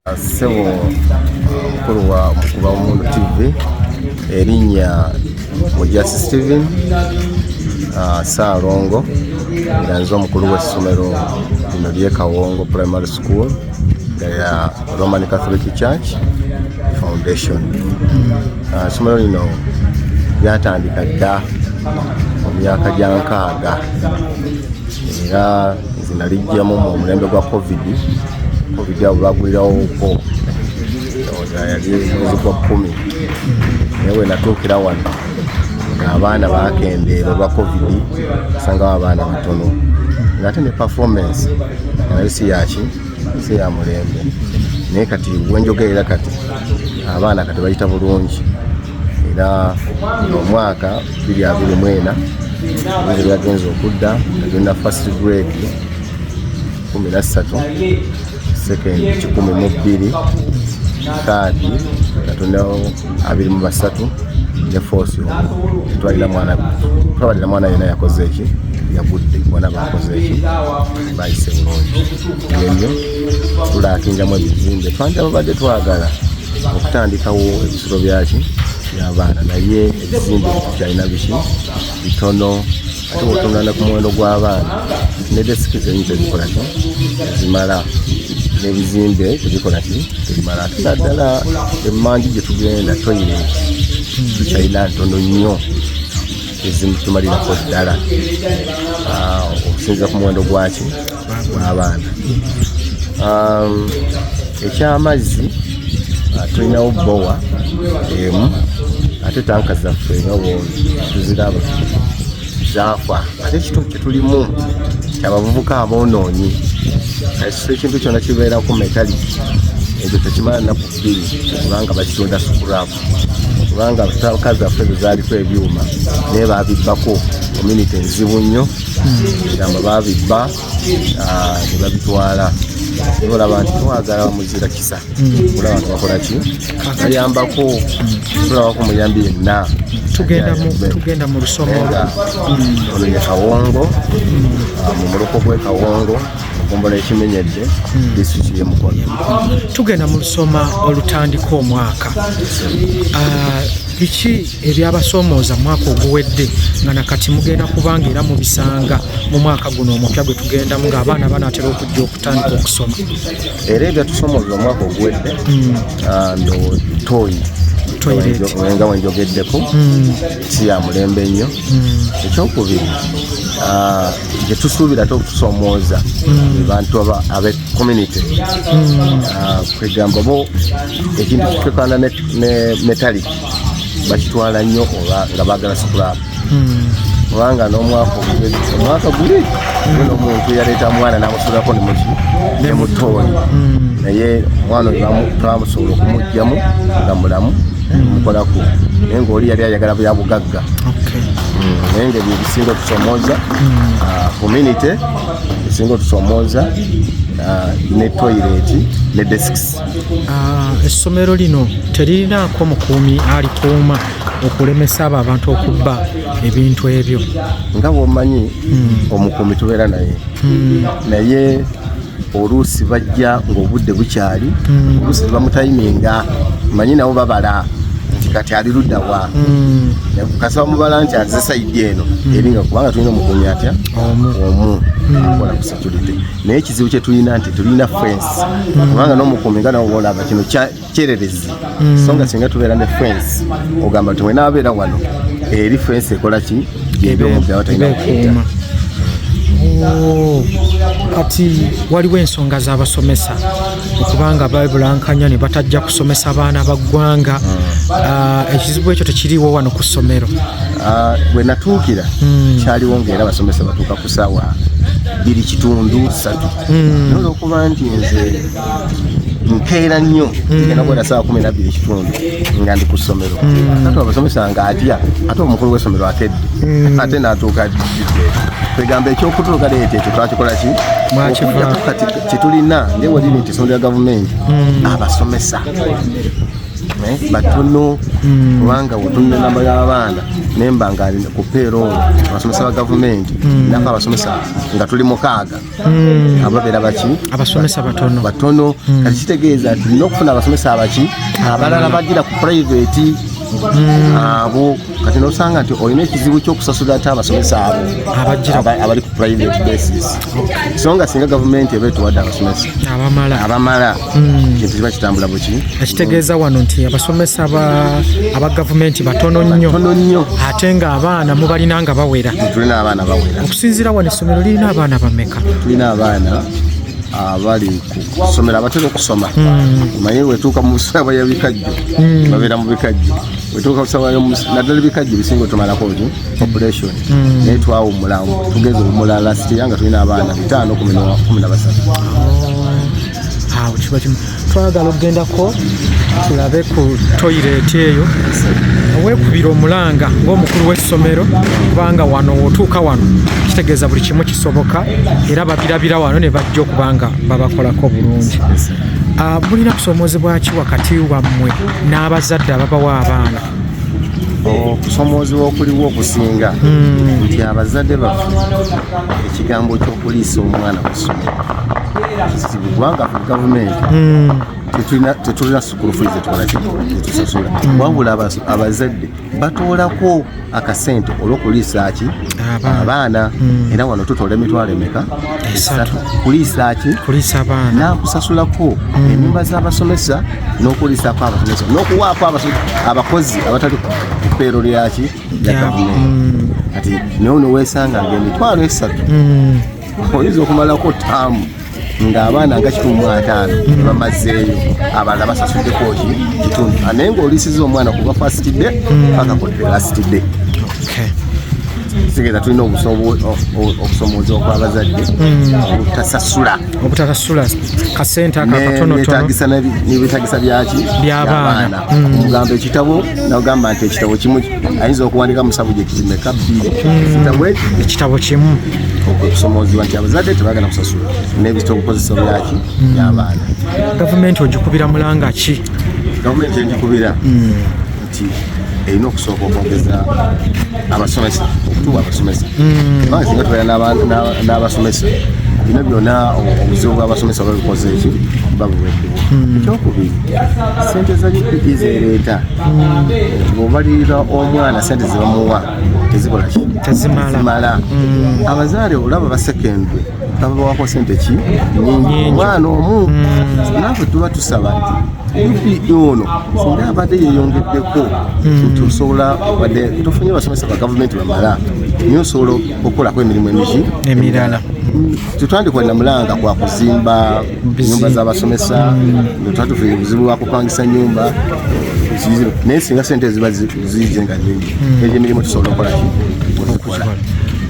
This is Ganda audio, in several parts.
Ssebo mukulu wa Mukuba Omuntu TV erinnya Mujasi Steven ah, Ssaalongo nga nze omukulu w'essomero lino ly'e Kawongo Primary School nga ya Roman Catholic Church Foundation. Ah, essomero lino lyatandika dda mu myaka gya nkaaga era nalijjamu mu mulembe gwa covid covid abo bagulirawooko yali mwezi gwa kumi naye wenatuukira wano abaana bakendeera olwa covid osangawo abaana batono ngaate ne performance nayo si yaki si ya mulembe naye kati wenjogerera kati abaana kati bayita bulungi era omwaka biri abiri mwena nze byagenza okudda agenda first grade kumi na ssatu second kikumi mu bbiri kaadi katondawo abiri mu basatu ne force twalira mwana twabalira mwana yena yakoze eki yagudde bona bakoze eki bayise bulungi yenyo tulakinjamu ebizimbe twanja babadde twagala okutandikawo ebisolo byaki byabaana naye ekizimbe kyalina biki bitono ate bwotungana ku muwendo gw'abaana ne desiki zenyi tezikola ki zimala n'ebizimbe tebikola ki tebimala ate naddala emanju gye tugenda toyireti tukyalina ntono nnyo ezimutumalirako ddala ah, okusinza ku muwendo gwaki n'abaana um, ekyamazzi uh, tulinawo bbowa emu ate tanka zaffe nga tuziraba zaafa ate ekitundu kyetulimu kyabavubuka aboonoonyi ekintu kyona kibeeraku metaliki ekyo tekimala naku bbiri kubanga bakitunda sukuraku kubanga tanka zaffe zezaliko ebyuma naye babibbako ominiti enzibu nnyo ebigambo babibba ah, ne babitwala naye olaba nti twagala bamuzira kisa hmm. olaba nti bakola ki bayambako tulabako muyambi yenna tugenda mu lusomo hmm. ono ye kawongo hmm. ah, mu muluko gwe kawongo okumbola ekimenyedde disitulikiti yemukono tugenda mu lusoma olutandika omwaka ah, biki ebyabasomooza mwaka oguwedde nga nakati mugenda kubanga era mubisanga mu mwaka guno omupya gwe tugendamu ng'abaana banaatera okujja okutandika okusoma era ebyatusomooza omwaka oguwedde hmm. ah, ndotoyi nga wenjogeddeko hmm. si ya mulembe nnyo hmm. ekyokubiri ah, gyetusuubira te okutusomooza abantu abe community ah, kwegamba bo ekintu kitekwanda ne metaliki bakitwala nnyo oba nga baagala sikulaapu hmm. kubanga n'omwaka omwaka guli hmm. nomuntu yaleeta mwana namusulako nemuki nemutooni hmm. naye mwana oyo twamusobola okumugjamu nga mulamu mukolaku naye ngaoli yali ayagala bya bugagga naye nga ebyo ebisinga otusomooza ah, community ebisinga otusomooza ah, ne toilet ne desks Ah, essomero lino teririnaako mukuumi alikuuma okulemesa abo abantu okubba ebintu ebyo nga bwomanyi hmm. omukuumi tubeera naye hmm. naye oluusi bajja ngaobudde bukyali hmm. oluusi tebamutayiminga manyi nabo babala nti kati ali luddawa kasa bamubala nti aze sayidi eno eringa kubanga tulina omukuumi atya omu akola kusa security naye ekizibu kye tulina nti tulina fence mm. kubanga n'omukuumi nga nawe olaba kino kyererezi mm. so nga singa tubeera ne fence ogamba nti mwena abeera wano eri fence ekola ki gyebyomubyawatanyakukuma oh, kati waliwo ensonga z'abasomesa okubanga babulankanya ne batajja kusomesa baana ba ggwanga mm. ah, ekizibu ekyo tekiriiwo wano ku ssomero ah, bwe natuukira kyaliwo ngaera abasomesa batuukako sawa biri kitundu satu hmm. noza okuba nti nze nkeera nnyo hmm. ngenda kuwera saa kumi nabbiri ekitundu nga ndi ku ssomero hmm. ate abasomesa nga atya ate omukulu w'essomero akedde ate natuuka kwegamba ekyokutuluka leeta ekyo twakikola ki okujako kati kyetulina ngewaliri nti essomero lya gavumenti abasomesa Eh, batono hmm. kubanga wotunula enamba y'abaana nemba nga ku peeroolo abasomesa ba gavumenti hmm. nafe abasomesa nga tuli mukaaga hmm. ababeera baki abasomesa batono batono kati kitegeeza nti nina okufuna abasomesa abaki abalala bagira ku purayiveti abo kati nosanga nti olina ekizibu kyokusasula ate abasomesa abo abali ku private basis so nga singa gavumenti eba etuwadde abasomesa abamala hmm. kintu kiba kitambula buki ekitegeeza wano nti abasomesa aba gavumenti batono nnyo ate nga abaana mubalina nga bawera tulina abaana bawera okusinziira wano essomero lirina abaana bameka tulina abaana abali kusomera abatera okusoma hmm. omanyi wetuuka mu busabwa ya bikajjo hmm. babeera mu bikajjo wetuuka kusawayo naddala ebikajjo ebisinga otumalako ki population mm. naye twawumulawo tugeza omumula lastiya nga tulina abaana bitaano kumi na basatu awo kiba kimu twagala okugendako tulabe ku toyireti eyo wekubira omulanga ngaomukulu w'essomero kubanga wano wotuuka wano kitegeeza buli kimu kisoboka era babirabira wano ne bajja okuba nga babakolako bulungi ah, mulina kusoomozebwaki wakati wammwe n'abazadde ababawa abaana okusomoozebwa okuliwo okusinga hmm. nti abazadde baffe ekigambo ky'okuliisa omwana ku ssomero kizibu kubanga fe gavumenti hmm. tetulina sukulu fuli zetukola kyetusasula hmm. wabula abazadde batoolako akasente olwokuliisaaki abaana hmm. era wano tutola emitwalo emeka esatu kuliisaaki nakusasulako hmm. enyumba z'abasomesa n'okuliisaako abasomesa n'okuwaako abakozi abatali kupeero lyaki lya gavumenti hmm. kati naye onowesanga nga emitwalo esatu oyinza okumalako taamu ng'abaana nga kikumi mu ataano bamazzeeyo abalala basasuddeko ki kitundu ah, naye ng'oliisiza omwana kuva fasiti de hmm. paka ku lasiti de sigeza tulina okusomooza okwabazadde hmm. obutasasula obutasasula kasente akakatonotono nebetagisa byaki byabaana omugamba hmm. ekitabo nagamba nti ekitabo kimu ayinza okuwandika mu sabujekiti meka bbiri hmm. ekitabo kimu okusomoozebwa nti abazadde tebagala kusasula nebisita obukozesa byaki hmm. byabaana gavumenti ogikubira mulanga ki gavumenti egikubira nti erina okusooka okwongeza abasomesa okutuwa abasomesa kubanga singa tubeera n'abasomesa bino byona obuzibu bw'abasomesa babikoze eki babuwedde Hmm. ekyokubiri sente za upe zereeta ngaobalirira hmm. omwana sente zebamuwa tezikolaki tezimala hmm. abazaale olaba basekendwe babawako sente ki nyingi omwana omu nafe tuba tusaba upe ono singa abadde yeyongeddeko nti osobola badde tofunye basomesa ba gavumenti bamala nyo osobola okukolako emirimu emigi emirala tetwandikola namulanga kwakuzimba nyumba z'abasomesa nga tuba tufunye obuzibu bwa kupangisa nyumba kizibu naye singa sente ziba ziije nga nyingi hmm. egyo emirimu tusobola okolaki okukola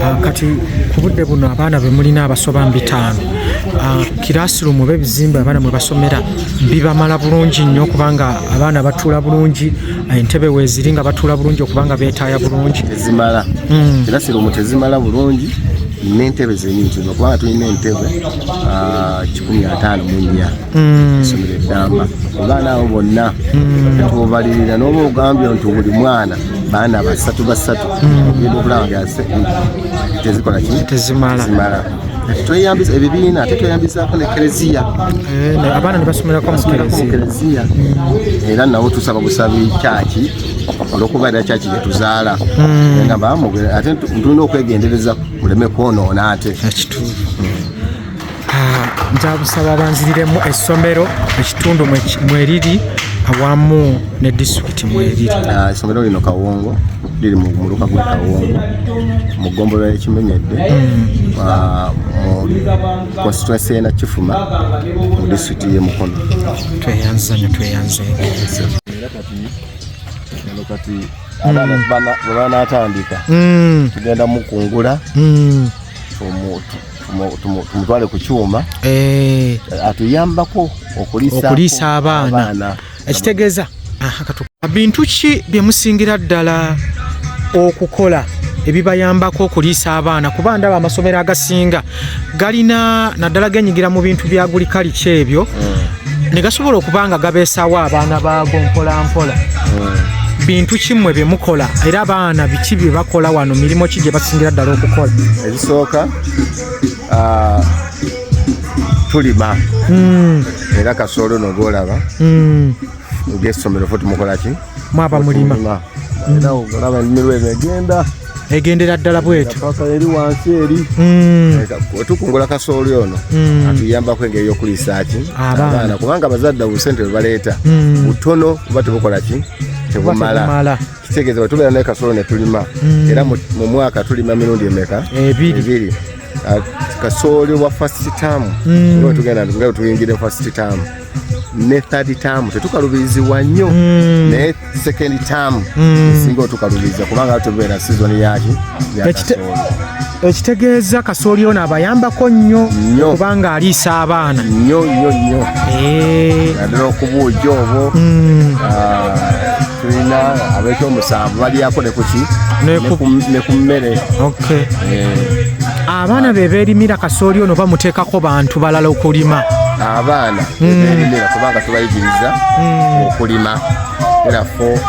ah, kati ku budde buno abaana be mulina abasoba mu bitaano ah, kirasirumu oba ebizimbe abaana mwe basomera bibamala bulungi nnyo okubanga abaana batuula bulungi ah, entebe weeziri nga batuula bulungi okubanga beetaaya bulungi tezimala hmm. kirasirumu tezimala bulungi n'entebe zenyini kino kubanga tulina entebe ah, kikumi ataano mu nnya hmm. esomero eddamba abaana abo bonna tubalirira hmm. noba ogambye nti buli mwana baana basatu basatu hmm. ogenda okulaba nga tezikola ki tezimala tweyambisa ebibiina ate tweyambisako ne kereziya eh, abaana nebasomerako mukereziya era nawo tusaba busabi kyaki olwokuba era kyaki gyetuzaala hmm. ate tulina okwegendereza muleme kwonoona ate ekituufu nzabusaba banziriremu essomero ekitundu mweriri awamu ne disitulikiti mweriri ah, essomero lino kawongo liri mu muluka gwa kawongo mu ggombolola ekimenyedde hmm. ah, mu konsituensi ena kifuma mu disitulikiti ye mukono tweyanzanyo tweyanze era kati kati abaana bwe banaatandika mm. tugenda mukungula mm. tumutwale ku kyuma eh. atuyambako okuliisa abaana ekitegeeza bintu ki bye musingira ddala okukola ebibayambako okuliisa abaana kuba ndaba amasomero agasinga galina naddala genyigira mu bintu bya gulikalica ebyo mm. ne gasobola okuba nga gabeesawo abaana baago mpolampola mm. bintu kimwe bye mukola era abaana biki bye bakola wano mirimu ki gye basingira ddala okukola ebisooka ah, tulima mm. era kasoolo nogwolaba ng'essomero fo tumukola ki mwaba mulima era olaba ennimiro eno egenda egendera ddala bwetu eri wansi eri hmm. tukungula kasooli ono hmm. atuyambako engeri yokuliisaaki abaana kubanga abazadde obusente bwebaleeta hmm. butono oba tebukola ki tebumala kitegeeza bwe tubeera naye kasooli ne tulima era mu mwaka tulima mirundi emeka ebiri ah, kasooli wa fasititamu tugenda nga wetuyingira fasititamu ne third term tetukalubirizibwa nnyo mm. naye second term mm. singa otukalubiriza kubanga tubeera sizoni yaki ekitegeeza kasooli ono abayambako nnyo kubanga aliisa abaana nnyo nnyo nnyo eh. naddala okubuuja obwo mm. ah. tulina abekyomusanvu balyako nekuki ne ku mmere eh. abaana be beerimira kasooli ono bamuteekako bantu balala okulima abaana hmm. beerimira kubanga tubayigiriza hmm. okulima era fo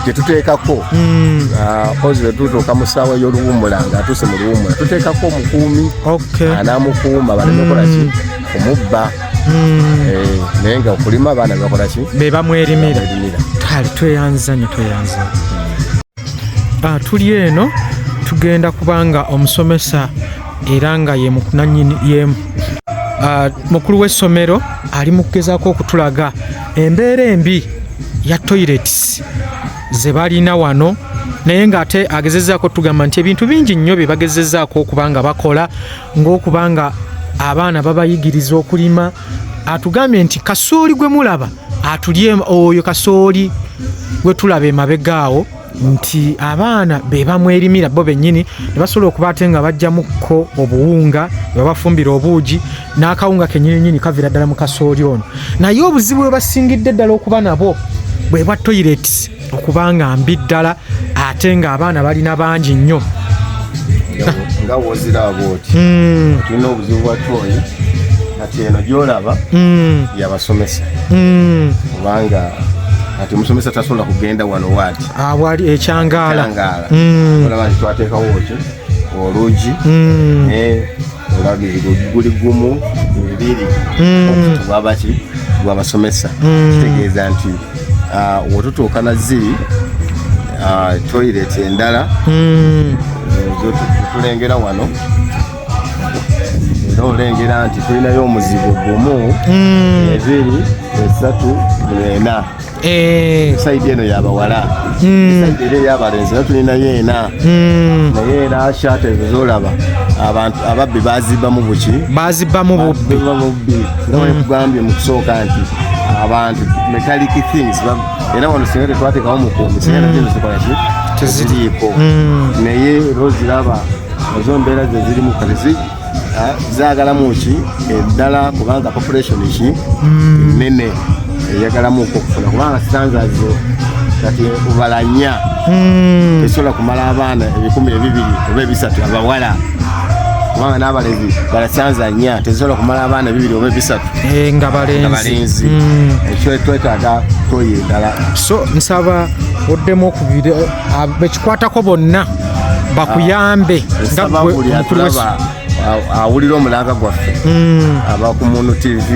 kyetuteekako hmm. ah, ozi lwetutuuka mu ssaawa ey'oluwummula nga atuuse mu luwummula tuteekako omukuumi anamukuuma balemekolaki kumubba hmm. eh, naye nga okulima abaana bebakola ki bebamwerimira kale tweyanzanyo tweyanzanyo ah, tuli eno tugenda kubanga omusomesa era nga ye mukunanyini yemu ah, mukulu w'essomero ali mu kugezaako okutulaga embeera embi ya toilets ze balina wano naye ng'ate agezezaako tugamba nti ebintu bingi nnyo bye bagezezaako okuba nga bakola ng'okuba nga abaana babayigiriza okulima atugambye nti kasooli gwe mulaba atulye oyo kasooli gwe tulaba emabega awo nti abaana be bamwerimira bo bennyini ne basobola okuba ate nga bajjamukko obuwunga ne babafumbira obuugi n'akawunga kenyininyini kavira ddala mu kasooli ono naye obuzibu bwe basingidde ddala okuba nabo bwe bwa toyireti okuba nga mbi ddala ate ng'abaana balina bangi nnyo nga woziraaba oti hmm. tulina obuzibu bwa tooyi kati eno gyolaba hmm. yabasomesa hmm. kubanga kati omusomesa tasobola kugenda wano waati awali ah, ekyangaala olaba nti twateekawo ki olugi olaba guli gumu ebiri okutubwabaki gwabasomesa kitegeeza nti ah, wetutuuka na ziri ah, toilet endala hmm. tulengera wano era olengera nti tulinayo omuzigo gumu hmm. ebiri esatu ena eh. saidi eno yabawala hmm. saidi eno yabalenzi era tulinayo ena Hmm. naye era shaata ezo zolaba abantu ababbi bazibamu buki bazibamu bubbi nga wekugambye hmm. mu kusooka nti abantu metallic things era wano singa tetwatekawo mukuumi singa hmm. nazo zikolaki teziriiko naye era oziraba ezo mbeera zezirimu kati Ah, zagalamu ki eddala kubanga population ki hmm. nene eyagalamu okufuna kubanga sitanzazo kati obalanya hmm. esobola kumala abaana ebikumi ebibiri oba ebisatu abawala kubanga n'abalezi balasanza nya tezisobola kumala abaana bibiri oba ebisatu eh, nga balenzi hmm. ekyo twetaaga toyo endala so nsaba oddemu okubiri abekikwatako bonna bakuyambe ah, nga gwe omukulu w'essomero awulira omulanga gwaffe hmm. aba ku munu tv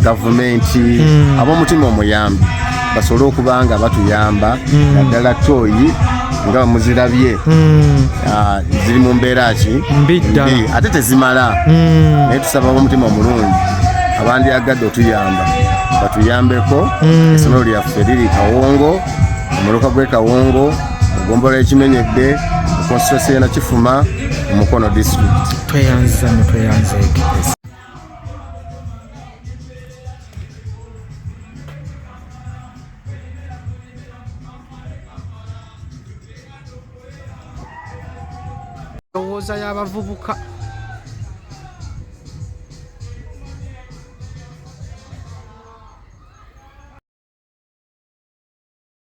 gavumenti hmm. ab'omutima omuyambi basobole okuba nga batuyamba hmm. naddala tooyi nga bamuzirabye ah, ziri mu mbeera ki mbi ate tezimala naye tusaba ab'omutima omulungi abandyagadde otuyamba batuyambeko esomero lyaffe liri kawongo omuluka gw'ekawongo Gombola ekimenyedde mu constituency ena kifuma mu Mukono district. Tweyanziza ne tweyanza ekipesa. Ndowooza y'abavubuka